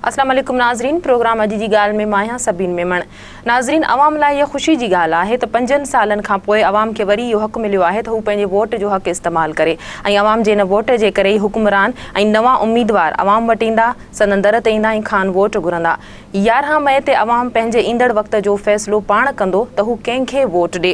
السلام عليڪم ناظرين پروگرام اڄ جي ڳالهه ۾ مان آهيان سبين ميمڻ ناظرين عوام لاء هيء خوشي جي ڳالهه آهي ته پنجن سالن کان پوء عوام کي وري اهو حق مليو آهي ته هو پنهنجي ووٽ جو حق استعمال ڪري ۽ عوام جي ان ووٽ جي ڪري ئي حڪمران ۽ نوان اميدوار عوام وٽ ايندا سندن در تي ايندا ۽ کان ووٽ گهرندا. يارهن مئي تي عوام پنهنجي ايندڙ وقت جو فيصلو پاڻ ڪندو ته هو ڪنهن کي ووٽ ڏي.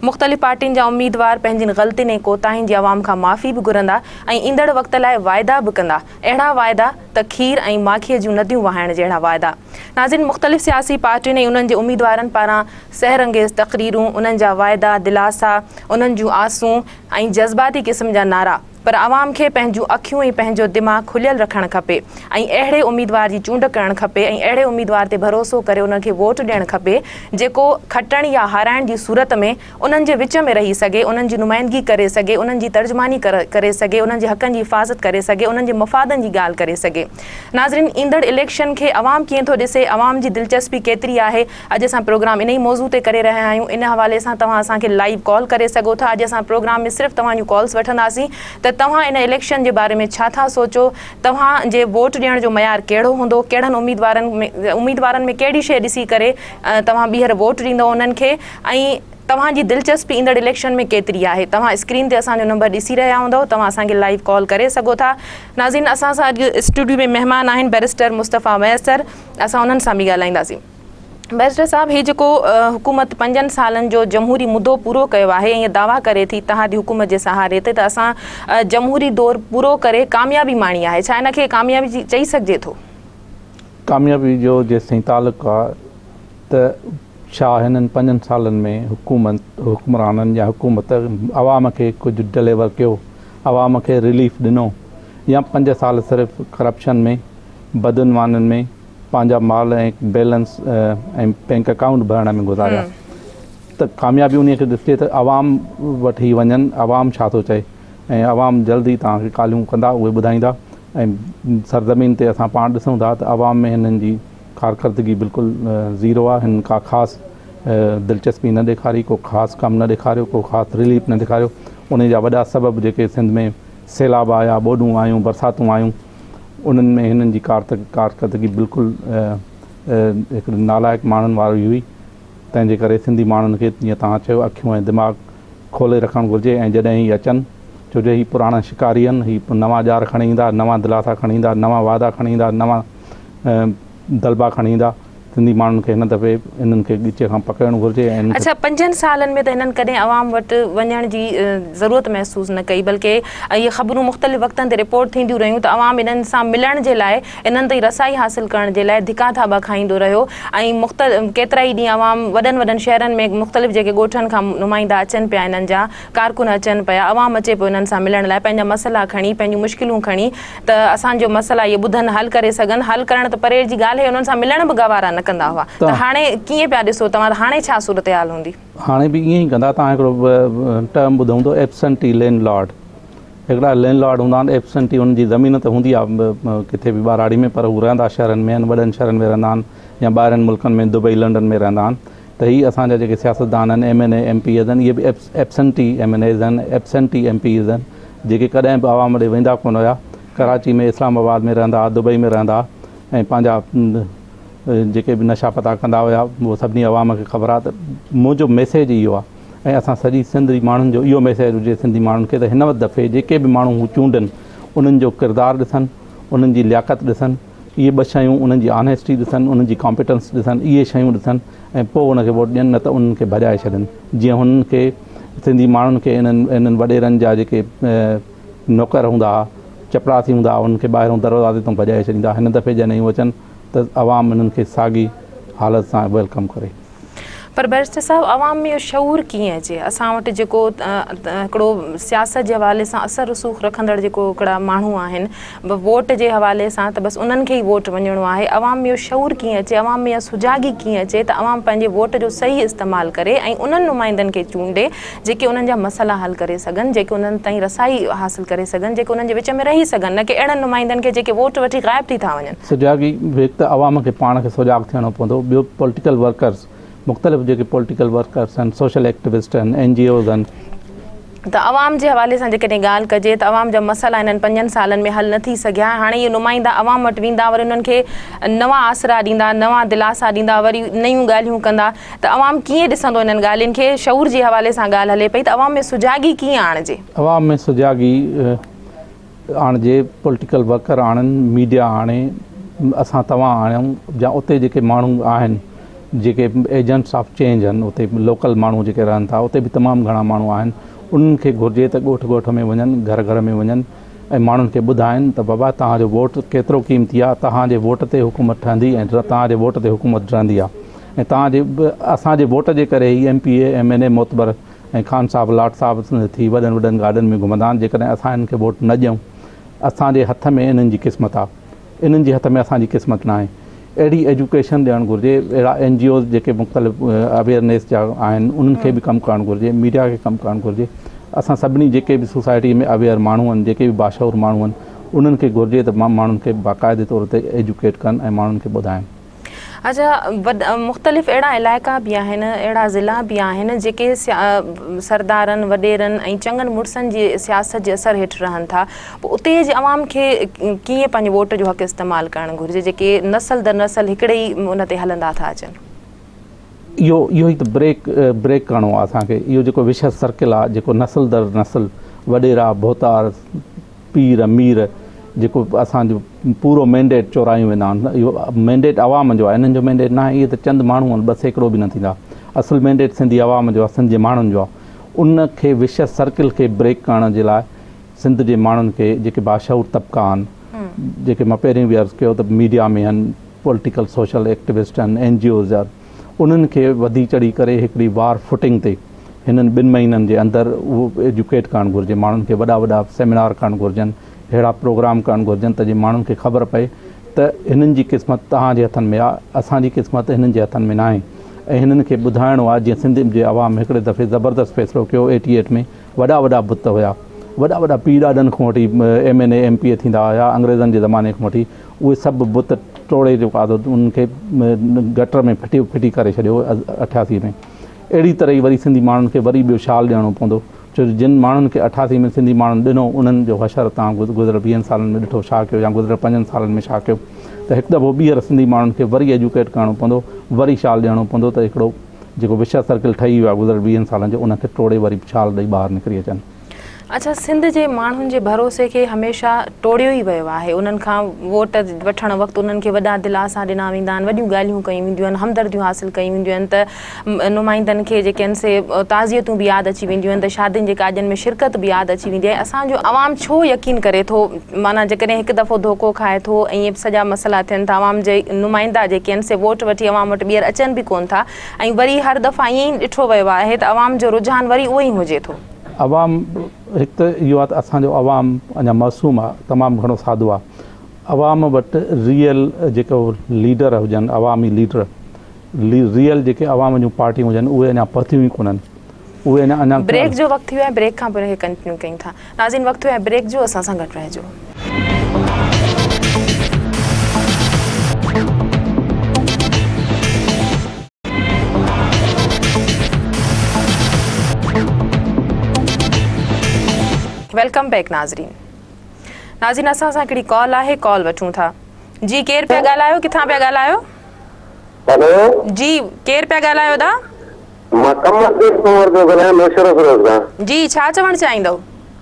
مختلف پارٽين جا اميدوار پنهنجين غلطين ۽ ڪوتاهين جي عوام کان معافي به گهرندا ۽ ايندڙ وقت لاء واعدا به ڪندا. اهڙا واعدا ته کير ۽ ماکيء جون نديون وهائڻ جهڙا واعدا. ناظرين مختلف سياسي پارٽين ۽ انهن جي اميدوارن پاران سحر انگيز تقريرون، انهن جا واعدا، دلاسا، انهن جون آسون ۽ جذباتي قسم جا نعرا. پر عوام کي پنهنجون اکيون ۽ پنهنجو دماغ کليل رکڻ کپي ۽ اهڙي اميدوار جي چونڊ ڪرڻ کپي ۽ اهڙي اميدوار تي ڀروسو ڪري انهن کي ووٽ ڏيڻ کپي جيڪو کٽڻ يا هارائڻ جي صورت ۾ انهن جي وچ ۾ رهي سگهي انهن جي نمائندگي ڪري سگهي انهن جي ترجماني ڪري سگهي انهن جي حقن جي حفاظت ڪري سگهي انهن جي مفادن جي ڳالهه ڪري سگهي ناظرين ايندڙ اليڪشن کي عوام ڪيئن ٿو ڏسي عوام جي دلچسپي ڪيتري آهي اڄ اسان پروگرام انهي موضوع تي ڪري رهيا آهيون ان حوالي سان توهان اسان کي لائيو ڪال ڪري سگهو ٿا اڄ اسان پروگرام ۾ صرف توهان جون ڪالز وٺنداسين ته توهان ان اليڪشن جي باري ۾ ڇا ٿا سوچو توهان جي ووٽ ڏيڻ جو معيار ڪهڙو هوندو ڪهڙن اميدوارن اميدوارن ۾ ڪهڙي شيء ڏسي ڪري توهان ٻيهر ووٽ ڏيندو انهن کي ۽ توهان جي دلچسپي ايندڙ اليڪشن ۾ ڪيتري آهي توهان اسڪرين تي اسان جو نمبر ڏسي رهيا هوندؤ توهان اسان کي لائيو ڪال ڪري سگهو ٿا ناظرين اسان سان اڄ اسٽوڊيو ۾ مهمان آهن بئريسٽر مصطفيٰ ميسر اسان انهن سان به ڳالهائينداسين. بئريسٽر صاحب هي جيڪو حڪومت پنجن سالن جو جمهوري مدو پورو ڪيو آهي ۽ دعويٰ ڪري ٿي اتحادي حڪومت جي سهاري تي ته اسان جمهوري دور پورو ڪري ڪاميابي ماڻي آهي ڇا ان کي ڪاميابي چئي سگهجي ٿو؟ ڪاميابي جو جيستائين تعلق آهي ته ڇا هنن پنجن سالن ۾ حڪومت حڪمرانن يا حڪومت عوام کي ڪجهه ڊليور ڪيو عوام کي رليف ڏنو يا پنج سال صرف ڪرپشن ۾ بدعنوانن ۾ پنهنجا مال ۽ بيلنس ۽ بئنڪ اڪائونٽ ڀرڻ ۾ گذاريا ته ڪاميابي انهي کي ڏسجي ته عوام وٽ هي وڃن عوام ڇا ٿو چئي ۽ عوام جلد ئي توهان کي ڪالهيون ڪندا اهي ٻڌائيندا ۽ سرزمين تي اسان پاڻ ڏسون ٿا ته عوام ۾ هنن جي ڪارڪردگي بلڪل زيرو آهي هنن ڪا خاص دلچسپي نه ڏيکاري ڪو خاص ڪم نه ڏيکاريو ڪو خاص رليف نه ڏيکاريو انهي جا وڏا سبب جيڪي سنڌ ۾ سيلاب آيا ٻوڏون آيون برساتون آيون انهن ۾ هنن جي ڪارڪردگي بلڪل هڪڙي نالائق ماڻهن واري هئي، تنهن جي ڪري سنڌي ماڻهن کي جيئن توهان چيو اکيون ۽ دماغ کولي رکڻ گهرجي ۽ جڏهن هي اچن ڇو جو هي پراڻا شڪاري آهن هي نوان ڄار کڻي ايندا، نوان دلاسا کڻي ايندا، نوان وعدا کڻي ايندا، نوان دلبا کڻي ايندا. سنڌي ماڻهن کي هن دفعي انهن کي ڳچيء کان پڪڙڻ گهرجي ۽ انهن کي. پنجن سالن ۾ ته هنن ڪڏهن عوام وٽ وڃڻ جي ضرورت محسوس نه ڪئي بلڪه اهي خبرون مختلف وقتن تي رپورٽ ٿينديون رهيون ته عوام انهن سان ملڻ جي لاء انهن تائين رسائي حاصل ڪرڻ جي لاء ڌڪا ٿاٻا کائيندو رهيو ۽ مختلف ڪيترائي ڏينهن عوام وڏن وڏن شهرن ۾ مختلف جيڪي ڳوٺن کان نمائندا اچن پيا انهن جا ڪارڪن اچن پيا عوام اچي پيو انهن سان ملڻ لاء پنهنجا مسئلا کڻي پنهنجون مشڪلون کڻي ته اسان جو مسئلا اهي ٻڌن حل ڪري سگهن حل ڪرڻ ته پري جي ڳالهه هي انهن سان ملڻ به گوارا نه ڪندا هئا ته هاڻي ڪيئن پيا ڏسو توهان ته هاڻي ڇا صورتحال هوندي. هاڻي به ائين ئي ڪندا توهان هڪڙو ٽرم ٻڌو هوندو ايبسنٽي لينڊ لارڊ هڪڙا لينڊ لارڊ هوندا آهن ايبسنٽي انهن جي زمين ته هوندي آهي ڪٿي به ٻهراڙي ۾ پر هو رهندا شهرن ۾ آهن وڏن شهرن ۾ رهندا آهن يا ٻاهرين ملڪن ۾ دبئي لنڊن ۾ رهندا آهن ته هي اسان جا جيڪي سياستدان آهن، M N A, M Ps آهن، اهي به ايبسنٽي ايم اين ايز آهن، ايبسنٽي ايم پيز آهن، جيڪي ڪڏهن به عوام ڏي ويندا ڪونه هيا، ڪراچي ۾ اسلام آباد ۾ رهندا ها، دبئي ۾ رهندا ها ۽ پنهنجا جيڪي به نشا پتا ڪندا هيا اهو سڀني عوام کي خبر آهي ته منهنجو ميسيج اهو آهي ۽ اسان سڄي سنڌ جي ماڻهن جو اهو ميسيج هجي سنڌي ماڻهن کي ته هن دفعي جيڪي به ماڻهو هو چونڊن انهن جو ڪردار ڏسن انهن جي لياقت ڏسن. اهي ٻه شيون انهن جي آنيسٽي ڏسن، انهن جي ڪامپيٽنس ڏسن، اهي شيون ڏسن ۽ پوء ان کي ووٽ ڏين نه ته انهن کي ڀڄائي ڇڏن جيئن هنن کي سنڌي ماڻهن کي انهن وڏيرن جا جيڪي نوڪر هوندا ها، چپراسي هوندا ها انهن کي ٻاهرون دروازي تان ڀڄائي ڇڏيندا. هن دفعي جڏهن هو اچن ته عوام انهن کي ساڳي حالت سان ويلڪم ڪري. پر بئريسٽر صاحب عوام ۾ اهو شعور ڪيئن اچي اسان وٽ جيڪو هڪڙو سياست جي حوالي سان اثر رسوخ رکندڙ جيڪو هڪڙا ماڻهو آهن ووٽ جي حوالي سان ته بس انهن کي ئي ووٽ وڃڻو آهي عوام ۾ اهو شعور ڪيئن اچي عوام ۾ اها سجاڳي ڪيئن اچي ته عوام پنهنجي ووٽ جو صحيح استعمال ڪري ۽ انهن نمائندن کي چونڊي جيڪي انهن جا مسئلا حل ڪري سگهن، جيڪي انهن تائين رسائي حاصل ڪري سگهن، جيڪي انهن جي وچ ۾ رهي سگهن، نه ڪي اهڙن نمائندن کي جيڪي ووٽ وٺي غائب ٿي ٿا وڃن. سجاڳي، هڪ ته عوام کي پاڻ کي سجاڳ ٿيڻو پوندو، ٻيو پوليٽيڪل ورڪرز، مختلف جيڪي پوليٽيڪل ورڪرز آهن، سوشل ايڪٽيوسٽ آهن، اين جي اوز آهن. ته عوام جي حوالي سان جيڪڏهن ڳالهه ڪجي ته عوام جا مسئلا هنن پنجن سالن ۾ حل نه ٿي سگهيا، هاڻي اهي نمائندا عوام وٽ ويندا وري انهن کي نوان آسرا ڏيندا، نوان دلاسا ڏيندا، وري نيون ڳالهيون ڪندا، ته عوام ڪيئن ڏسندو انهن ڳالهين کي؟ شعور جي حوالي سان ڳالهه هلي پئي ته عوام ۾ سجاڳي ڪيئن آڻجي؟ عوام ۾ سجاڳي آڻجي، پوليٽيڪل ورڪر آڻن، ميڊيا آڻي، اسان توهان آڻيون يا اتي جيڪي ماڻهو آهن جيڪي ايجنٽس آف چينج آهن اتي لوڪل ماڻهو جيڪي رهن ٿا اتي به تمام گهڻا ماڻهو آهن انهن کي گهرجي ته ڳوٺ ڳوٺ ۾ وڃن گهر گهر ۾ وڃن ۽ ماڻهن کي ٻڌائين ته بابا توهان جو ووٽ ڪيترو قيمتي آهي، توهان جي ووٽ تي حڪومت ٺهندي ۽ توهان جي ووٽ تي حڪومت ڊهندي آهي ۽ توهان جي اسان جي ووٽ جي ڪري ئي M P A, M N A معتبر ۽ خان صاحب، لاٽ صاحب ٿي وڏن وڏن گاڏين ۾ گهمندا آهن، جيڪڏهن اسان هنن کي ووٽ نه ڏيون، اسان جي هٿ ۾ هنن جي قسمت آهي، انهن جي هٿ ۾ اسان جي قسمت ناهي. اهڙي ايجوڪيشن ڏيڻ گهرجي، اهڙا اين جي اوز جيڪي مختلف اويئرنيس جا آهن انهن کي به ڪم ڪرڻ گهرجي، ميڊيا کي ڪم ڪرڻ گهرجي، اسان سڀني جيڪي به سوسائٽي ۾ اويئر ماڻهو آهن، جيڪي به باشعور ماڻهو آهن، انهن کي گهرجي ته ماڻهن کي باقاعدي طور تي ايجوڪيٽ ڪن ۽ ماڻهن کي ٻڌائن. اچا مختلف اهڙا علائقا به آهن، اهڙا ضلعا به آهن جيڪي سردارن، وڏيرن ۽ چڱن مڙسن جي سياست جي اثر هيٺ رهن ٿا پوء اتي جي عوام کي ڪيئن پنهنجي ووٽ جو حق استعمال ڪرڻ گهرجي جيڪي نسل در نسل هڪڙي ئي ان تي هلندا ٿا اچن. اهو اهو ئي ته بريڪ بريڪ ڪرڻو آهي اسان کي اهو جيڪو وشيس سرڪل آهي جيڪو نسل در نسل وڏيرا ڀوتار، پير مير جيڪو اسان جو پورو مينڊيٽ چورايون ويندا آهن اهو مينڊيٽ عوام جو آهي انهن جو مينڊيٽ ناهي اهي ته چند ماڻهو آهن ٻه سيڪڙو به نه ٿيندا اصل مينڊيٽ سنڌي عوام جو آهي سنڌ جي ماڻهن جو آهي ان کي وشيس سرڪل کي بريڪ ڪرڻ جي لاء سنڌ جي ماڻهن کي جيڪي باشعور طبقا آهن جيڪي مان پهرين به عرض ڪيو ته ميڊيا ۾ آهن پوليٽيڪل سوشل ايڪٽيوسٽ آهن اين جي اوز آهن انهن کي وڌي چڙهي ڪري هڪڙي وار فوٽنگ تي هنن ٻن مهينن جي اندر اهو ايجوڪيٽ ڪرڻ گهرجي ماڻهن کي وڏا وڏا سيمينار ڪرڻ گهرجن اهڙا پروگرام ڪرڻ گهرجن ته جي ماڻهن کي خبر پئي ته هنن جي قسمت توهان جي هٿن ۾ آ اسان جي قسمت هنن جي هٿن ۾ ناهي ۽ هنن کي ٻڌائڻو آ جيئن سنڌ جي عوام هڪڙي دفعي زبردست فيصلو ڪيو ايٽي ايٽ ۾ وڏا وڏا بت هيا وڏا وڏا پير ڏاڏن کان وٺي M N A M P A ٿيندا هيا انگريزن جي زماني کان وٺي اهي سڀ بت ٽوڙي جو آڌو انهن کي گٽر ۾ ڦٽي ڦٽي ڪري ڇڏيو اٺياسي ۾ اهڙي طرح ئي وري سنڌي ماڻهن کي وري ٻيو شال ڏيڻو پوندو ڇو جو جن ماڻهن کي اٺاسي ۾ سنڌي ماڻهن ڏنو انهن جو حشر توهان گذريل ويهن سالن ۾ ڏٺو ڇا ڪيو يا گذريل پنجن سالن ۾ ڇا ڪيو ته هڪ دفعو ٻيهر سنڌي ماڻهن کي وري ايجوڪيٽ ڪرڻو پوندو وري شال ڏيڻو پوندو ته هڪڙو جيڪو وشيا سرڪل ٺهي ويو آهي گذريل ويهن سالن جو ان کي ٽوڙي وري شال ڏئي ٻاهر نڪري اچن. اچا سنڌ جي ماڻهن جي ڀروسي کي هميشه ٽوڙيو ئي ويو آهي انهن کان ووٽ وٺڻ وقت انهن کي وڏا دلاسا ڏنا ويندا آهن وڏيون ڳالهيون ڪيون وينديون آهن همدرديون حاصل ڪيون وينديون آهن ته نمائندن کي جيڪي آهن سي تعزيتون به ياد اچي وينديون آهن ته شادين جي ڪاڄن ۾ شرڪت به ياد اچي ويندي آهي اسان جو عوام ڇو يقين ڪري ٿو معنيٰ جيڪڏهن هڪ دفعو ڌوڪو کائي ٿو ۽ سڄا مسئلا ٿين ٿا عوام جي نمائندا جيڪي آهن سي ووٽ وٺي عوام وٽ ٻيهر اچن به ڪون ٿا ۽ وري هر دفعا ائين ئي ڏٺو ويو آهي ته عوام جو رجحان وري اهو ئي هجي ٿو عوام هڪ ته اهو آهي ته اسان جو عوام اڃا معصوم آهي تمام گهڻو سادو آهي عوام وٽ ريئل جيڪو ليڊر هجن عوامي ليڊر ريئل جيڪي عوام جون پارٽيون هجن اهي اڃا پهتيون ئي ڪونهن اهي اڃا اڃا بريڪ جو وقت ٿيو آهي بريڪ کان پوء ان کي ڪنٽينيو ڪيون ٿا ناظرين وقت ٿيو آهي بريڪ جو اسان سان گڏ رهجو ويلڪم بيڪ ناظرين ناظرين اسان سان هڪڙي ڪال آهي ڪال وٺون ٿا جي ڪير پيا ڳالهايو ڪٿان پيا ڳالهايو هلو جي ڪير پيا ڳالهايو دا مان ڪم ڪيس ٿو ورتو ڳالهايان مشرف روز کان جي ڇا چوڻ چاهيندو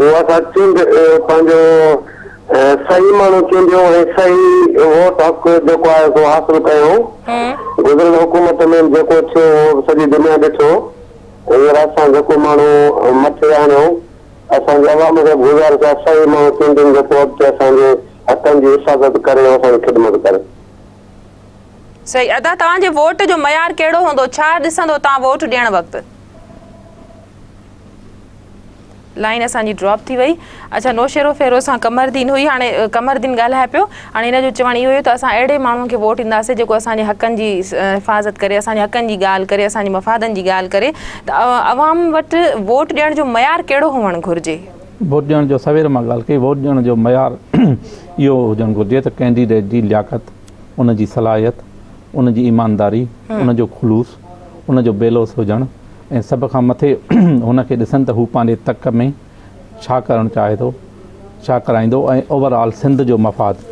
هو اسان چونڊ پنهنجو صحيح ماڻهو چونڊيو ۽ صحيح ووٽ حق جيڪو آهي سو حاصل ڪيو. گذريل حڪومت ۾ به جيڪو ٿيو اهو به سڄي دنيا ڏٺو. هينئر اسان جيڪو ماڻهو مٿي آڻيو اسان جي عوام کي به گذارش آهي صحيح ماڻهو چونڊين جيڪو اڳتي اسان جي حقن جي حفاظت ڪري ۽ اسان جي خدمت ڪري. صحيح ادا توهان جي ووٽ جو معيار ڪهڙو هوندو ڇا ڏسندو توهان ووٽ ڏيڻ وقت. لائين اسان جي ڊراپ ٿي وئي اچا نوشيرو فيروز سان قمردين هئي هاڻي قمردين ڳالهائي پيو هاڻي هن جو چوڻ اهو هيو ته اسان اهڙي ماڻهو کي ووٽ ڏينداسين جيڪو اسان جي حقن جي حفاظت ڪري اسان جي حقن جي ڳالهه ڪري اسان جي مفادن جي ڳالهه ڪري ته عوام وٽ ووٽ ڏيڻ جو معيار ڪهڙو هئڻ گهرجي ووٽ ڏيڻ جو سوير مان ڳالهه ڪئي ووٽ ڏيڻ جو معيار اهو هجڻ گهرجي ته ڪينڊيڊيٽ جي لياقت ان جي صلاحيت ان جي ايمانداري ان جو خلوص ان جو بي لوث هجڻ ۽ سڀ کان مٿي هن کي ڏسن ته هو پنهنجي تڪ ۾ ڇا ڪرڻ چاهي ٿو، ڇا ڪرائيندو ۽ اوور آل سنڌ جو مفاد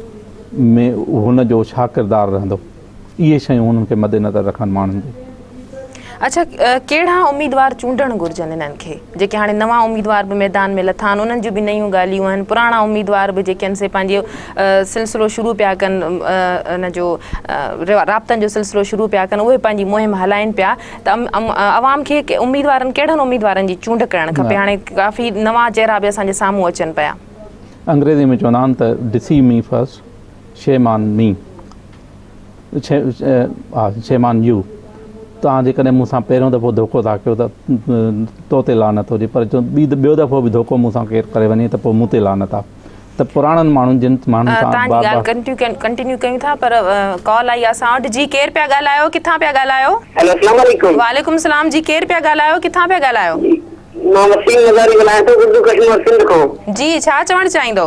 ۾ هن جو ڇا ڪردار رهندو. اهي شيون هنن کي مدنظر رکڻ ماڻهن جي. اڇا ڪهڙا اميدوار چونڊڻ گهرجن انهن کي؟ جيڪي هاڻي نوان اميدوار به ميدان ۾ لٿا آهن انهن جون به نيون ڳالهيون آهن پراڻا اميدوار به جيڪي آهن سي پنهنجو سلسلو شروع پيا ڪن ان جو رابطن جو سلسلو شروع پيا ڪن اهي پنهنجي مهم هلائين پيا ته عوام کي اميدوارن ڪهڙن اميدوارن جي چونڊ ڪرڻ کپي هاڻي ڪافي نوان چهرا به اسان جي سامهون اچن پيا انگريزي ۾ چوندا آهن ته deceive me first shame on me. Shame on you توهان جيڪڏهن مون سان پهريون دفعو ڌوڪو ٿا ڪيو ته تو تي لعنت هجي پر جو ٻيو دفعو به ڌوڪو مون سان ڪير ڪري وڃي ته پوء مون تي لعنت آ ته پراڻن ماڻهن جن ماڻهن سان بار بار توهان جي ڳالهه ڪنٽينيو ڪيون ٿا پر ڪال آئي آ اسان وٽ جي ڪير پيا ڳالهايو ڪٿان پيا ڳالهايو. هيلو اسلام عليڪم. وعليڪم السلام جي ڪير پيا ڳالهايو ڪٿان پيا ڳالهايو. جي مان وسيم مزاري ڳالهايان ٿو اردو ڪشمور سنڌ کان. جي ڇا چوڻ چاهيندو.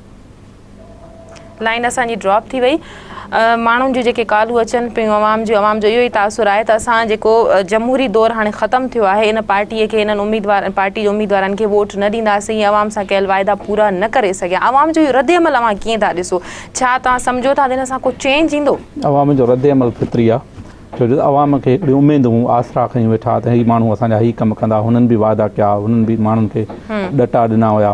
لائين اسان جي ڊراپ ٿي وئي ماڻهن جون جيڪي ڪالون اچن پيون عوام جون عوام جو اهو ئي تاثر آهي ته اسان جيڪو جمهوري دور هاڻي ختم ٿيو آهي ان پارٽي کي انهن اميدوار پارٽي جي اميدوارن کي ووٽ نه ڏينداسين ۽ عوام سان ڪيل واعدا پورا نه ڪري سگهيا عوام جو اهو رد عمل اوهان ڪيئن ٿا ڏسو ڇا توهان سمجهو ٿا ته هن سان ڪو چينج ايندو عوام جو رد عمل فطري آهي ڇو جو عوام کي هڪڙي اميد هون آسرا کيون ويٺا ته هي ماڻهو اسان جا هي ڪم ڪندا هنن به واعدا ڪيا هنن به ماڻهن کي ڏٽا ڏنا هيا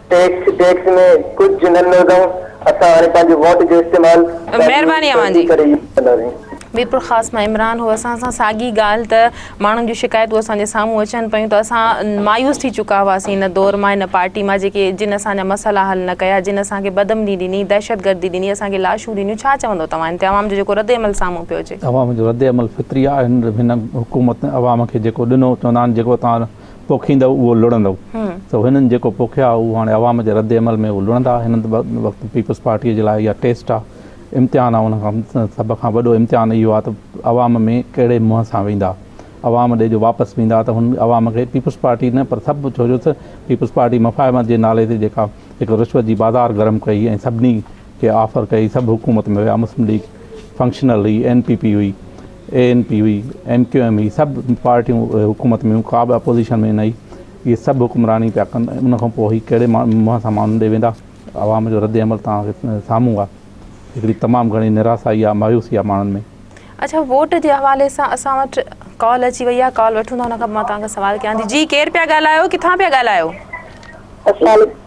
ٽيڪس ٽيڪس ۾ ڪجهه نه نوندائون اسان هاڻي پنهنجي ووٽ جو استعمال مهرباني اوهان جي. ڪري ئي ڪنداسين. ميرپور خاص مان عمران هو اسان سان ساڳي ڳالهه ته ماڻهن جون شڪايتون اسان جي سامهون اچن پيون ته اسان مايوس ٿي چڪا هئاسين ان دور مان ان پارٽي مان جيڪي جن اسان جا مسئلا حل نه ڪيا جن اسان کي بدامني ڏني دهشتگردي ڏني اسان کي لاشون ڏنيون ڇا چوندو توهان هن تي عوام جو جيڪو ردعمل سامهون پيو اچي. عوام جو ردعمل فطري آهي هن حڪومت عوام کي جيڪو ڏنو چوندا آهن جيڪو توهان پوکيندؤ اهو لڙندؤ سو هنن جيڪو پوکيو آهي اهو هاڻي عوام جي رد عمل ۾ اهو لڙندا هن وقت پيپلز پارٽي جي لاء اها ٽيسٽ آهي امتحان آهي ان کان سڀ کان وڏو امتحان اهو آهي ته عوام ۾ ڪهڙي منهن سان ويندا عوام ڏي جو واپس ويندا ته هن عوام کي پيپلز پارٽي نه پر سڀ ڇو جو ته پيپلز پارٽي مفاهمت جي نالي تي جيڪا هڪ رشوت جي بازار گرم ڪئي ۽ سڀني کي آفر ڪئي سڀ حڪومت ۾ ويا مسلم ليگ فنڪشنل هئي اين پي پي هئي اي اين پي هئي ايم ڪيو ايم هئي سڀ پارٽيون حڪومت ۾ ڪا به اپوزيشن ۾ نه هئي اهي سڀ حڪمراني پيا ڪن ان کان پوء هي ڪهڙي منهن سان ماڻهن ڏي ويندا عوام جو رد عمل تان سامهون آ هڪڙي تمام گهڻي نراسائي آ مايوسي آ ماڻهن ۾ اچا ووٽ جي حوالي سان اسان وٽ ڪال اچي وئي آ ڪال وٺون ٿا ان کان پوء مان توهان کي سوال ڪيان ٿي جي ڪير پيا ڳالهايو ڪٿان پيا ڳالهايو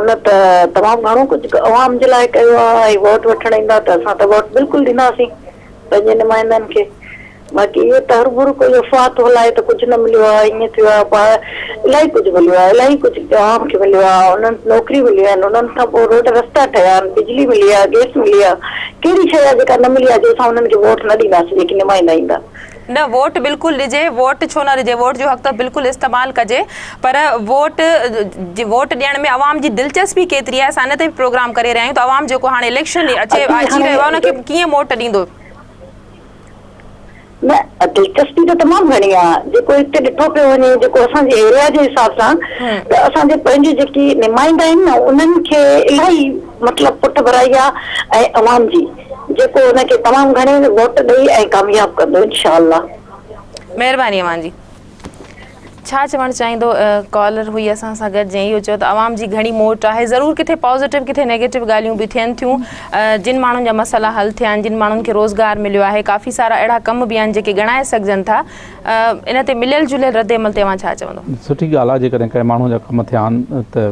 ان ته تمام گهڻو ڪجهه عوام جي لاء ڪيو آهي ۽ ووٽ وٺڻ ايندا ته اسان ته ووٽ بلڪل ڏينداسين پنهنجي نمائندن کي باقي اهي ته هربرو ڪوئي افواهه ٿو هلائي ته ڪجهه نه مليو آهي ائين ٿيو آهي پاڻ الاهي ڪجهه مليو آهي الاهي ڪجهه عوام کي مليو آهي انهن نوڪري مليون آهن انهن کان پوء روڊ رستا ٺهيا آهن بجلي ملي آهي گئس ملي آهي ڪهڙي شيء آهي جيڪا نه ملي آهي جو اسان انهن کي ووٽ نه ڏينداسين جيڪي نمائندا ايندا نه ووٽ بلڪل ڏجي، ووٽ ڇو نه ڏجي، ووٽ جو حق ته بلڪل استعمال ڪجي پر ووٽ ووٽ ڏيڻ ۾ عوام جي دلچسپي ڪيتري آهي اسان ان تي به پروگرام ڪري رهيا آهيون ته عوام جيڪو هاڻي اليڪشن اچي اچي رهيو آهي ان کي ڪيئن ووٽ ڏيندو. نه دلچسپي ته تمام گهڻي آهي جيڪو هتي ڏٺو پيو وڃي جيڪو اسان جي ايريا جي حساب سان ته اسان جي پنهنجي جيڪي نمائندا آهن نه انهن کي الاهي مطلب پٺڀرائي آهي ۽ عوام جي جيڪو ان کي تمام گهڻي ووٽ ڏئي ۽ ڪامياب ڪندو انشاء الله. مهرباني اوهان جي. ڇا چوڻ چاهيندو ڪالر هئي اسان سان گڏ جنهن اهو چيو ته عوام جي گهڻي موٽ آهي ضرور ڪٿي پازيٽو ڪٿي نيگيٽو ڳالهيون به ٿين ٿيون جن ماڻهن جا مسئلا حل ٿيا آهن جن ماڻهن کي روزگار مليو آهي ڪافي سارا اهڙا ڪم به آهن جيڪي ڳڻائي سگهجن ٿا ان تي مليل جليل رد عمل تي اوهان ڇا چوندو؟ سٺي ڳالهه آهي جيڪڏهن ڪنهن ماڻهو جا ڪم ٿيا آهن ته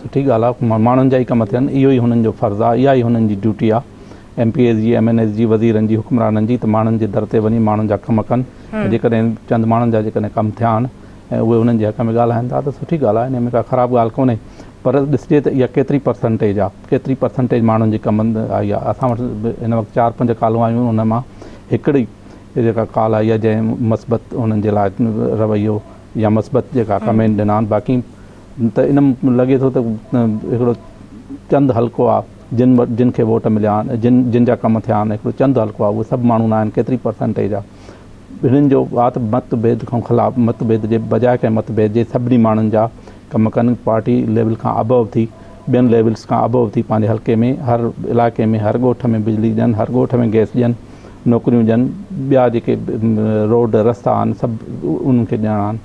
سٺي ڳالهه آهي ماڻهن جا ئي ڪم ٿين اهو ئي هنن جو فرض آهي اها ئي هنن جي ڊيوٽي آهي ايم پي ايز جي ايم اين ايز جي وزيرن جي حڪمرانن جي ته ماڻهن جي در تي وڃي ماڻهن جا ڪم ڪن ۽ جيڪڏهن چند ماڻهن جا جيڪڏهن ڪم ٿيا آهن ۽ اهي انهن جي حق ۾ ڳالهائن ٿا ته سٺي ڳالهه آهي ان ۾ ڪا خراب ڳالهه ڪونهي پر ڏسجي ته اها ڪيتري پرسنٽيج آهي ڪيتري پرسنٽيج ماڻهن جي ڪم آئي آهي اسان وٽ هن وقت چار پنج ڪالون آيون آهن ان مان هڪڙي اهي جيڪا ڪال آئي آهي جنهن مثبت انهن جي لاء رويو يا مثبت جيڪا ڪمينٽ ڏنا آهن باقي ته ان لڳي ٿو ته هڪڙو چند حلقو آهي جن جن کي ووٽ مليا آهن جن جن جا ڪم ٿيا آهن هڪڙو چند حلقو آهي اهي سڀ ماڻهو نه آهن ڪيتري پرسنٽيج آهي هنن جو وات مت ڀيد کان خلاف مت ڀيد جي بجاء ڪنهن مت ڀيد جي سڀني ماڻهن جا ڪم ڪن پارٽي ليول کان ابو ٿي ٻين ليولس کان ابو ٿي پنهنجي حلقي ۾ هر علائقي ۾ هر ڳوٺ ۾ بجلي ڏين هر ڳوٺ ۾ گيس ڏين نوڪريون ڏين ٻيا جيڪي روڊ رستا آهن سڀ انهن کي ڏيڻا آهن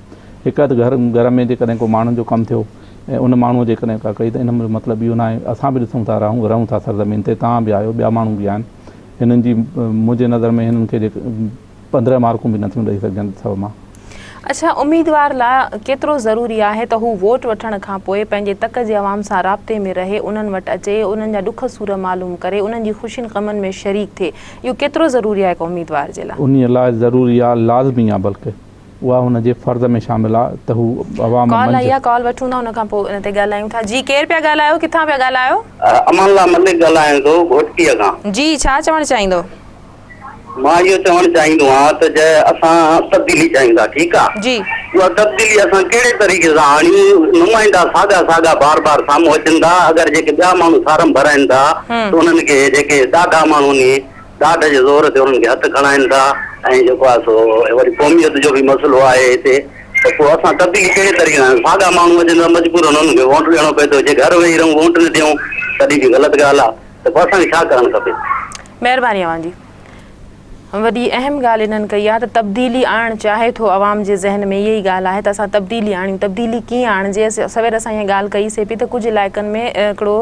هڪ اڌ گهر گهر ۾ جيڪڏهن ڪو ماڻهن جو ڪم ٿيو ۽ ان ماڻهو جيڪڏهن ڪا ڪئي ته ان جو مطلب اهو ناهي اسان به ڏسون ٿا رهون رهون ٿا سرزمين تي توهان به آهيو ٻيا ماڻهو به آهن هنن جي منهنجي نظر ۾ هنن کي پندرهن مارڪون به نٿيون ڏئي سگهجن سو مان اڇا اميدوار لاء ڪيترو ضروري آهي ته هو ووٽ وٺڻ کان پوء پنهنجي تڪ جي عوام سان رابطي ۾ رهي، انهن وٽ اچي، انهن جا ڏک سور معلوم ڪري، انهن جي خوشين غمن ۾ شريڪ ٿئي، اهو ڪيترو ضروري آهي هڪ اميدوار جي لاء؟ انهيء لاء ضروري آهي، لازمي آهي بلڪ اها هن جي فرض ۾ شامل آهي ته هو عوام ڪال آئي منجهه. آهي ڪال وٺون ٿا ان کان پوء ان تي ڳالهايون ٿا. جي ڪير پيا ڳالهايو ڪٿان پيا ڳالهايو؟ امان الله ملڪ ڳالهايان ٿو گهوٽڪيء کان. جي ڇا چوڻ چاهيندو؟ مان اهو چوڻ چاهيندو آهيان ته جي اسان تبديلي چاهيون ٿا ٺيڪ آ اها تبديلي اسان ڪهڙي طريقي سان آڻيون نمائندا ساڳا ساڳا بار بار سامهون اچن ٿا اگر جيڪي ٻيا ماڻهو فارم ڀرائين ٿا ته انهن کي جيڪي ڏاڍا ماڻهو ني ڏاڍ جي زور تي انهن کي هٿ کڻائين ٿا ۽ جيڪو آ سو وري قوميت جو به مسئلو آهي هتي ته پوء اسان تبديلي ڪهڙي طريقي سان ساڳا ماڻهو اچن ٿا مجبورن انهن کي ووٽ ڏيڻو پئي ٿو جي گهر ويهي رهون ووٽ نه ڏيون تڏهن به غلط ڳالهه آ ته پوء اسان کي ڇا ڪرڻ کپي. مهرباني اوهان جي. وڏي اهم ڳالهه انهن ڪئي آهي ته تبديلي آڻڻ چاهي ٿو عوام جي ذهن ۾ اهي ئي ڳالهه آهي ته اسان تبديلي آڻيون تبديلي ڪيئن آڻجي سوير اسان اها ڳالهه ڪئي سي پئي ته ڪجهه علائقن ۾ هڪڙو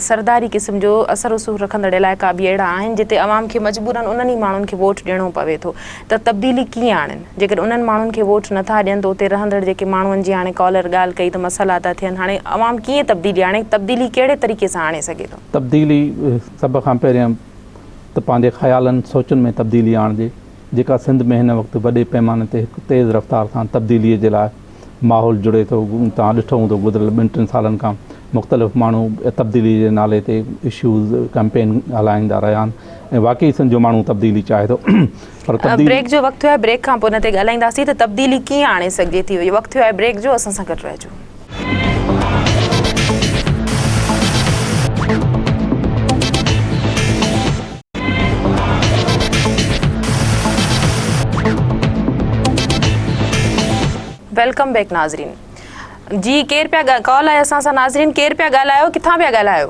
سرداري قسم جو اثر رسوخ رکندڙ علائقا به اهڙا آهن جتي عوام کي مجبورا انهن ئي ماڻهن کي ووٽ ڏيڻو پوي ٿو ته تبديلي ڪيئن آڻين جيڪڏهن انهن ماڻهن کي ووٽ نٿا ڏين ته اتي رهندڙ جيڪي ماڻهن جي هاڻي ڪالر ڳالهه ڪئي ته مسئلا ٿا ٿين هاڻي عوام ڪيئن تبديلي آڻي تبديلي ڪهڙي طريقي سان آڻي سگهي ٿو. تبديلي سڀ کان پهريان ته پنهنجي خيالن سوچن ۾ تبديلي آڻجي جيڪا سنڌ ۾ هن وقت وڏي پيماني تي هڪ تيز رفتار سان تبديلي جي لاء ماحول جڙي ٿو توهان ڏٺو هوندو گذريل ٻن ٽن سالن کان مختلف ماڻهو تبديلي جي نالي تي اشوز ڪئمپين هلائيندا رهيا آهن ۽ واقعي سنڌ جو ماڻهو تبديلي چاهي ٿو بريڪ جو وقت ٿيو آهي بريڪ کان پوء ان تي ڳالهائينداسين ته تبديلي ڪيئن آڻي سگهجي ٿي وقت ٿيو آهي بريڪ جو اسان سان گڏ رهجو ويلڪم بيڪ ناظرين جي ڪير پيا ڪال آهي اسان سان ناظرين ڪير پيا ڳالهايو ڪٿان پيا ڳالهايو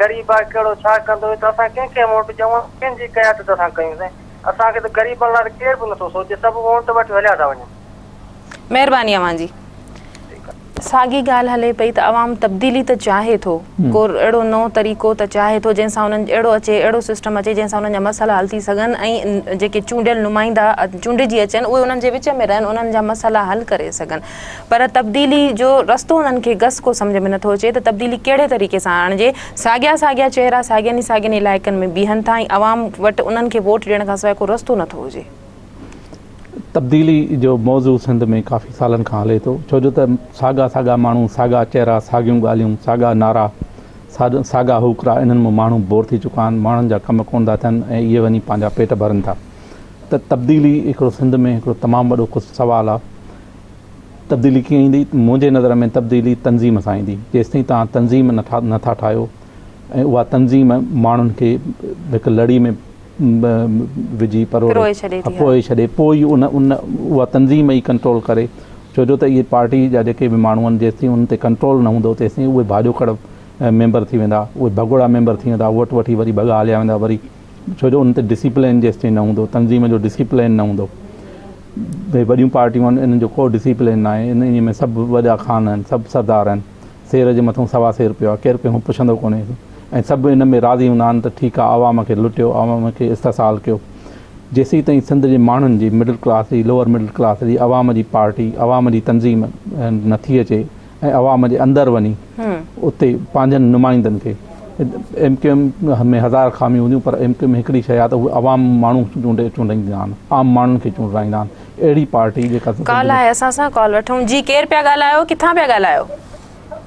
غريب آهي ڪهڙو ڇا ڪندو ته اسان ڪنهن کي ووٽ ڏيون ۽ ڪنهن جي قيادت اسان ڪيون سائين اسان کي ته غريبن لاء ته ڪير به نٿو سوچي سڀ ووٽ وٺي هليا ٿا وڃن. مهرباني اوهان جي. ساڳي ڳالهه هلي پئي ته عوام تبديلي ته چاهي ٿو ڪو اهڙو نئون طريقو ته چاهي ٿو جنهن سان انهن اهڙو اچي اهڙو سسٽم اچي جنهن سان انهن جا مسئلا حل ٿي سگهن ۽ جيڪي چونڊيل نمائندا چونڊجي اچن اهي انهن جي وچ ۾ رهن انهن جا مسئلا حل ڪري سگهن پر تبديلي جو رستو انهن کي گس ڪو سمجهه ۾ نٿو اچي ته تبديلي ڪهڙي طريقي سان آڻجي، ساڳيا ساڳيا چهرا ساڳين ئي ساڳين علائقن ۾ بيهن ٿا ۽ عوام وٽ انهن کي ووٽ ڏيڻ کانسواء ڪو رستو نٿو هجي. تبديلي جو موضوع سنڌ ۾ ڪافي سالن کان هلي ٿو ڇو جو ته ساڳا ساڳا ماڻهو، ساڳا چهرا، ساڳيون ڳالهيون، ساڳا نعرا، ساڳا هوڪرا انهن مان ماڻهو بور ٿي چڪا آهن، ماڻهن جا ڪم ڪونه ٿا ٿين ۽ اهي وڃي پنهنجا پيٽ ڀرن ٿا. ته تبديلي هڪڙو سنڌ ۾ هڪڙو تمام وڏو ڪس سوال آ تبديلي ڪيئن ايندي منهنجي نظر ۾ تبديلي تنظيم سان ايندي جيستائين توهان تنظيم نه ٺا نه ٿا ٺاهيو ۽ اها تنظيم ماڻهن کي هڪ لڙي ۾ وجهي پروڙي پروئي ڇڏي ٿي پروئي ڇڏي پوء ئي ان ان اها تنظيم ئي ڪنٽرول ڪري ڇو جو ته اهي پارٽي جا جيڪي به ماڻهو آهن جيستائين انهن تي ڪنٽرول نه هوندو تيستائين اهي ڀاڄو کڙ ميمبر ٿي ويندا اهي ڀڳوڙا ميمبر ٿي ويندا ووٽ وٺي وري ڀڳا هليا ويندا وري ڇو جو ان تي ڊسيپلين جيستائين نه هوندو تنظيم جو ڊسيپلين نه هوندو ڀي وڏيون پارٽيون آهن انهن جو ڪو ڊسيپلين ناهي انهن ۾ سڀ وڏا خان آهن سڀ سردار آهن سير جي مٿان سوا سير پيو آهي ڪير ڪنهن پڇندو ڪونهي ۽ سڀ ان ۾ راضي هوندا آهن ته ٺيڪ آهي عوام کي لٽيو عوام کي استحصال ڪيو جيسين تائين سنڌ جي ماڻهن جي مڊل ڪلاس جي لوئر مڊل ڪلاس جي عوام جي پارٽي عوام جي تنظيم نه ٿي اچي ۽ عوام جي اندر وڃي اتي پنهنجن نمائندن کي ايم ڪيو ايم ۾ هزار خاميون هونديون پر ايم ڪيو ايم هڪڙي شيء آهي ته اهي عوام ماڻهو چونڊي چونڊائيندا آهن عام ماڻهن کي چونڊرائيندا آهن اهڙي پارٽي جيڪا ڪال آهي اسان سان ڪال وٺون جي ڪير پيا ڳالهايو ڪٿان پيا ڳالهايو.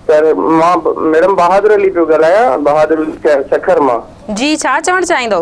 سر مان ميڊم بهادر علي پيو ڳالهايان بهادر علي سکر مان. جي ڇا چوڻ چاهيندو.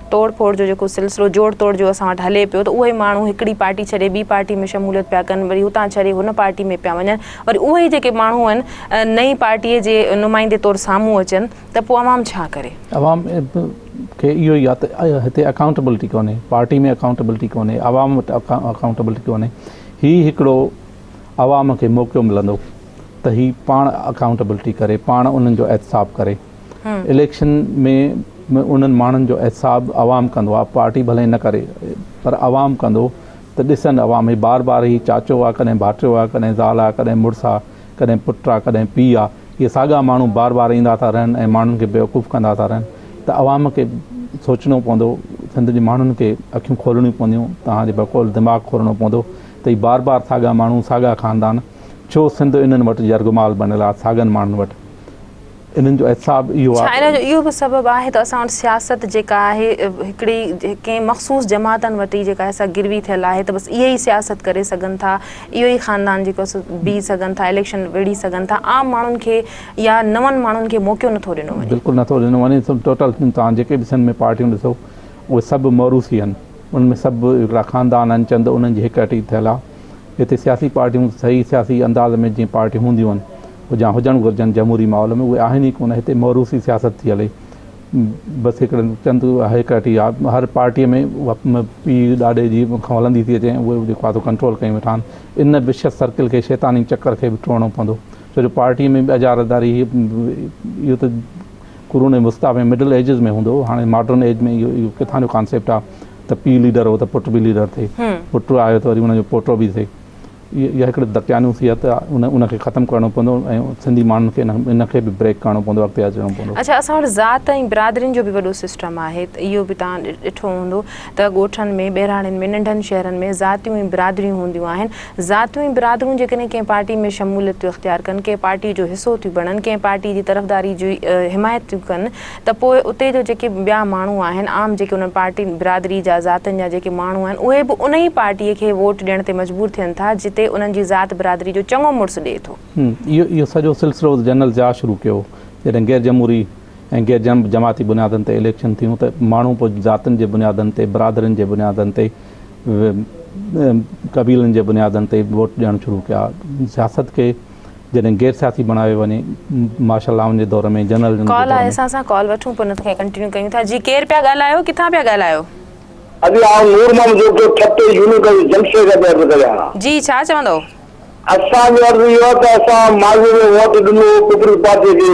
ٽوڙ ڦوڙ جو جيڪو سلسلو جوڙ توڙ جو اسان وٽ هلي پيو ته اهي ئي ماڻهو هڪڙي پارٽي ڇڏي ٻي پارٽي ۾ شموليت پيا ڪن وري هتان ڇڏي هن پارٽي ۾ پيا وڃن وري اهي ئي جيڪي ماڻهو آهن نئين پارٽي جي نمائندي طور سامهون اچن ته پوء عوام ڇا ڪري. عوام کي اهو ئي آهي ته هتي اڪائونٽيبلٽي ڪونهي پارٽي ۾ اڪائونٽيبلٽي ڪونهي عوام وٽ اڪائونٽيبلٽي ڪونهي هي هڪڙو عوام کي موقعو ملندو ته هي پاڻ اڪائونٽيبلٽي ڪري پاڻ انهن جو احتساب ڪري. اليڪشن ۾ انهن ماڻهن جو احتساب عوام ڪندو آ پارٽي ڀلي نه ڪري پر عوام ڪندو ته ڏسن عوام هي بار بار هي چاچو آ ڪڏهن ڀاٽيو آ ڪڏهن زال آ ڪڏهن مڙس آ ڪڏهن پٽ آ ڪڏهن پي آ هي ساڳا ماڻهو بار بار ايندا ٿا رهن ۽ ماڻهن کي بيوقوف ڪندا ٿا رهن ته عوام کي سوچڻو پوندو سنڌ جي ماڻهن کي اکيون کولڻيون پونديون توهان جي بقول دماغ کولڻو پوندو ته هي بار بار ساڳا ماڻهو ساڳا خاندان ڇو سنڌ انهن وٽ يرغمال بنيل آ ساڳن ماڻهن وٽ انهن جو احتساب اهو آهي. ڇا ان جو اهو به سبب آهي ته اسان وٽ سياست جيڪا آهي هڪڙي ڪنهن مخصوص جماعتن وٽ ئي جيڪا سا گروي ٿيل آهي ته بس اهي ئي سياست ڪري سگهن ٿا اهو ئي خاندان جيڪو سو بيهي سگهن ٿا اليڪشن وڙهي سگهن ٿا عام ماڻهن کي يا نون ماڻهن کي موقعو نٿو ڏنو وڃي. بلڪل نٿو ڏنو وڃي ٽوٽل توهان جيڪي به سنڌ ۾ پارٽيون ڏسو اهي سڀ موروثي آهن انهن ۾ سڀ هڪڙا خاندان آهن چند انهن جي هڪ اٽي ٿيل آهي. جتي سياسي پارٽيون صحيح سياسي انداز ۾ جيئن پارٽيون هونديون هن جا هجڻ گهرجن جمهوري ماحول ۾ اهي آهن ئي ڪونه هتي موروثي سياست ٿي هلي بس هڪڙن چند هيڪرٽي آهي هر پارٽي ۾ پي ڏاڏي جي کان هلندي ٿي اچي اهي جيڪو آهي ڪنٽرول ڪيون ويٺا آهن ان وشيس سرڪل کي شيطاني چڪر کي به ٽوڙڻو پوندو ڇو جو پارٽي ۾ به اجاراداري اهو ته قرون وسطيٰ ۾ مڊل ايجز ۾ هوندو هو هاڻي ماڊرن ايج ۾ اهو اهو ڪٿان جو ڪانسيپٽ آ ته پيء ليڊر هو ته پٽ به ليڊر ٿئي پٽ آيو ته وري ان جو پوٽو به ٿئي اهي اها هڪڙي دقيانو صحت آ ان ان کي ختم ڪرڻو پوندو ۽ سنڌي ماڻهن کي ان ان کي به بريڪ ڪرڻو پوندو اڳتي اچڻو پوندو. اڇا اسان وٽ ذات ۽ برادرين جو به وڏو سسٽم آهي ته اهو به توهان ڏٺو هوندو ته ڳوٺن ۾ ٻهراڙين ۾ ننڍن شهرن ۾ ذاتيون ۽ برادريون هونديون آهن ذاتون ۽ برادرون جيڪڏهن ڪنهن پارٽي ۾ شموليت ٿيون اختيار ڪن، ڪنهن پارٽي جو حصو ٿيون بڻن، ڪنهن پارٽي جي طرفداري جي حمايت ٿيون ڪن ته پوء اتي جو جيڪي ٻيا ماڻهو آهن، عام جيڪي انهن پارٽين، برادري جا، ذاتن جا جيڪي ماڻهو آهن، اهي به انهي پارٽي کي ووٽ ڏيڻ تي مجبور ٿين ٿا، جتي انهن جي ذات برادري جو چڱو مڙس ڏئي ٿو. اهو سڄو سلسلو جنرل ضياء شروع ڪيو، جڏهن غيرجمهوري ۽ غير جماعتي بنيادن تي اليڪشن ٿيون ته ماڻهو پوء ذاتن جي بنيادن تي، برادرين جي بنيادن تي، قبيلن جي بنيادن تي ووٽ ڏيڻ شروع ڪيا. سياست کي جڏهن غير سياسي بڻايو وڃي مارشل لاون جي دور ۾ جنرلزم جي ڪال دور آهي ۾. اسان سان ڪال وٺون پوء نطق کي ڪنٽينيو ڪيون ٿا جي ڪير پيا ڳالهايو ڪٿان پيا ڳالهايو. اڄ آئون نور محمد جوکيو ٺٽي يونيورسٽي جمشيد جا پيا عرض ڪريان ها. جي ڇا چوندئو. اسان جو عرض اهو آهي ته اسان ماضي ۾ ووٽ ڏنو هو پيپلز پارٽي کي.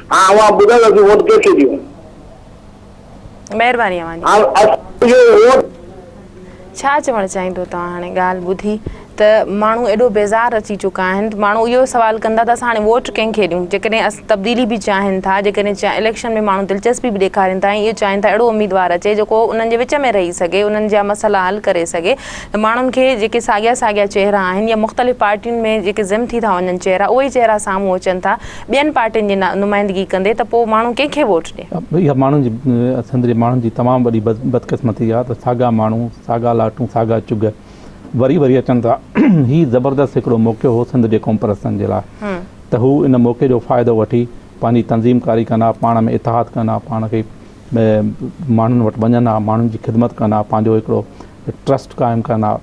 ها اوهان ٻڌايو اسين ووٽ ڪنهن کي ڏيون. مهرباني اوهان جي. ها اسان جو ووٽ. ڇا چوڻ چاهيندو توهان هاڻي ڳالهه ٻڌي ته ماڻهو ايڏو بيزار اچي چڪا آهن ماڻهو اهو سوال ڪندا ته اسان هاڻي ووٽ ڪنهن کي ڏيون جيڪڏهن اسان تبديلي به چاهين ٿا جيڪڏهن اليڪشن ۾ ماڻهو دلچسپي به ڏيکارين ٿا ۽ اهو چاهين ٿا اهڙو اميدوار اچي جيڪو انهن جي وچ ۾ رهي سگهي انهن جا مسئلا حل ڪري سگهي ته ماڻهن کي جيڪي ساڳيا ساڳيا چهرا آهن يا مختلف پارٽين ۾ جيڪي ضم ٿي ٿا وڃن چهرا اهي ئي چهرا سامهون اچن ٿا ٻين پارٽين جي نمائندگي ڪندي ته پوء ماڻهو ڪنهن کي ووٽ ڏين؟ اها ماڻهن جي سنڌ جي ماڻهن جي تمام وڏي بدقسمتي آهي ته ساڳا ماڻهو ساڳا لاٽون ساڳا چگهه وري وري اچن ٿا هي زبردست هڪڙو موقعو هو سنڌ جي قومپرستن جي لاء ته هو ان موقعي جو فائدو وٺي پنهنجي تنظيم ڪاري ڪن ها پاڻ ۾ اتحاد ڪن ها پاڻ کي ماڻهن وٽ وڃن ها ماڻهن جي خدمت ڪن ها پنهنجو هڪڙو ٽرسٽ قائم ڪن ها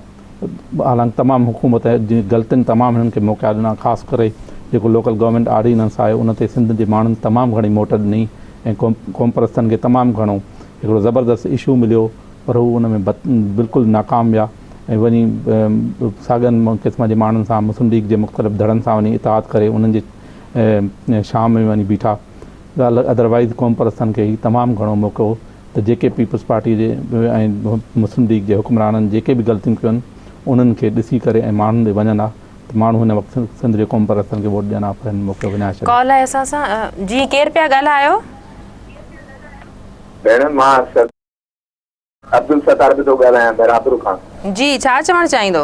حالانڪ تمام حڪومت جي غلطين تمام هنن کي موقعا ڏنا خاص ڪري جيڪو لوڪل گورنمينٽ آرڊيننس آهي ان تي سنڌ جي ماڻهن تمام گهڻي موٽ ڏني ۽ قومپرستن کي تمام گهڻو هڪڙو زبردست اشو مليو پر هو ان ۾ بلڪل ناڪام ويا ۽ وڃي ساڳن قسم جي ماڻهن سان مسلم ليگ جي مختلف ڌڙن سان وڃي اتحاد ڪري انهن جي شام ۾ وڃي بيٺا ادروائيز قومپرستن کي هي تمام گهڻو موقعو ته جيڪي پيپلز پارٽي جي ۽ مسلم ليگ جي حڪمرانن جيڪي به غلطيون ڪيون آهن انهن کي ڏسي ڪري ۽ ماڻهن ڏي وڃن ها ته ماڻهو هن وقت سنڌ جي قومپرستن کي ووٽ ڏين ها پر هنن موقعو وڃائي ڇڏيو. ڪال آهي اسان سان جي ڪير پيا ڳالهايو. ڀيڻ مان سر عبدالستار به ٿو ڳالهايان ميرابر کان. جي ڇا چوڻ چاهيندو.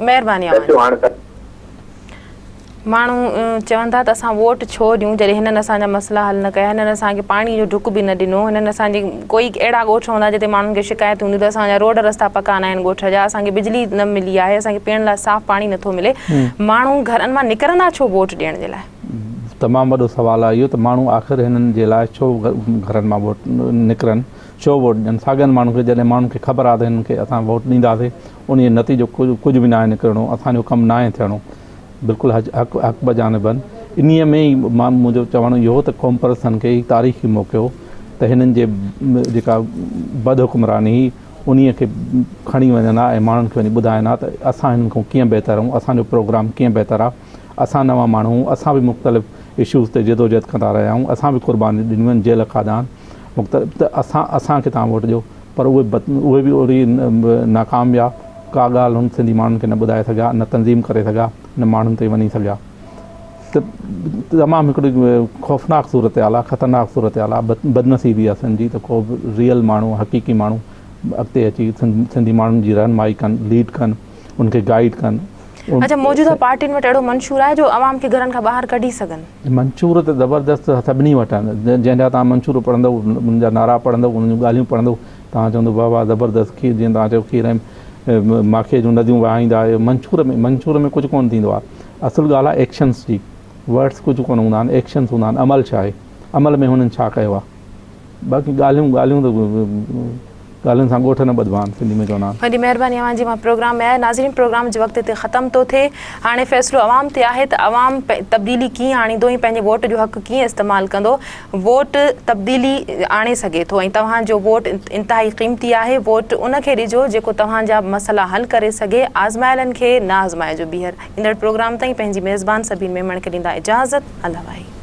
مهرباني اوهان جي. ماڻهو چون ٿا ته اسان ووٽ ڇو ڏيون جڏهن هنن اسان جا مسئلا حل نه ڪيا هنن اسان کي پاڻي جو ڍڪ به نه ڏنو هنن اسان جي ڪوئي اهڙا ڳوٺ هوندا جتي ماڻهن کي شڪايتون هونديون ته اسان جا روڊ رستا پڪا نه آهن ڳوٺ جا اسان کي بجلي نه ملي آهي اسان کي پيئڻ لاء صاف پاڻي نٿو ملي ماڻهو گهرن مان نڪرندا ڇو ووٽ ڏيڻ جي لاء تمام وڏو سوال آهي اهو ته ماڻهو آخر هنن جي لاء ڇو گهرن مان ووٽ نڪرن ڇو ووٽ ڏين ساڳين ماڻهن کي جڏهن ماڻهن کي خبر آهي ته هنن کي اسان ووٽ ڏينداسين انهي جو نتيجو ڪجهه به ناهي نڪرڻو اسان جو ڪم ناهي ٿيڻو بلڪل حق بجانبن انهي ۾ ئي منهنجو چوڻ اهو هو ته قومپرستن کي هي تاريخي موقعو ته هنن جي جيڪا بد حڪمراني هئي انهي کي کڻي وڃن ها ۽ ماڻهن کي وڃي ٻڌائن ها ته اسان هنن کان ڪيئن بهتر آهيون اسان جو پروگرام ڪيئن بهتر آهي اسان نوان ماڻهو آهيون اسان به مختلف اشوز تي جدوجهد ڪندا رهيا آهيون اسان به قربانيون ڏنيون آهن جيل کاڌا آهن مختلف ته اسان اسان کي توهان ووٽ ڏيو پر اهي اهي به اهڙي ناڪام ويا ڪا ڳالهه هن سنڌي ماڻهن کي نه ٻڌائي سگهيا نه تنظيم ڪري سگهيا نه ماڻهن تي وڃي سگهيا ته تمام هڪڙي خوفناڪ صورت حال آ خطرناڪ صورت حال آ بدنصيبي آ سنڌ جي ته ڪو ريئل ماڻهو حقيقي ماڻهو اڳتي اچي سنڌي ماڻهن جي رهنمائي ڪن ليڊ ڪن ان کي گائيڊ ڪن. اڇا موجوده پارٽين وٽ اهڙو منشور آهي جو عوام کي گهرن کان باهر ڪڍي سگهن. منشور ته زبردست سڀني وٽ آهن جنهن جا توهان منشور پڙهندو ان جا نعرا پڙهندو انهن جون ڳالهيون پڙهندو توهان چوندو واه واه زبردست کير جيئن توهان چيو کير ۽ ماکي جون نديون وهائيندا آهيو منشور ۾ منشور ۾ ڪجهه ڪونه ٿيندو آهي اصل ڳالهه آهي ايڪشنس جي ورڊس ڪجهه ڪونه هوندا آهن ايڪشنس هوندا آهن عمل ڇا آهي عمل ۾ هنن ڇا ڪيو آهي. باقي ڳالهيون ڳالهيون ته ڳالهين سان ڳوٺ نه ٻڌبا آهن سنڌي ۾ چوندا آهن. وڏي مهرباني اوهان جي مان پروگرام ۾ آيو. ناظرين پروگرام جو وقت هتي ختم ٿو ٿئي هاڻي فيصلو عوام تي آهي ته عوام تبديلي ڪيئن آڻيندو ۽ پنهنجي ووٽ جو حق ڪيئن استعمال ڪندو ووٽ تبديلي آڻي سگهي ٿو ۽ توهان جو ووٽ انتهائي قيمتي آهي ووٽ ان کي ڏجو جيڪو توهان جا مسئلا حل ڪري سگهي آزمايلن کي نه آزمائجو ٻيهر ايندڙ پروگرام تائين پنهنجي ميزبان سبين ميمڻ کي ڏيندا اجازت الله واهي.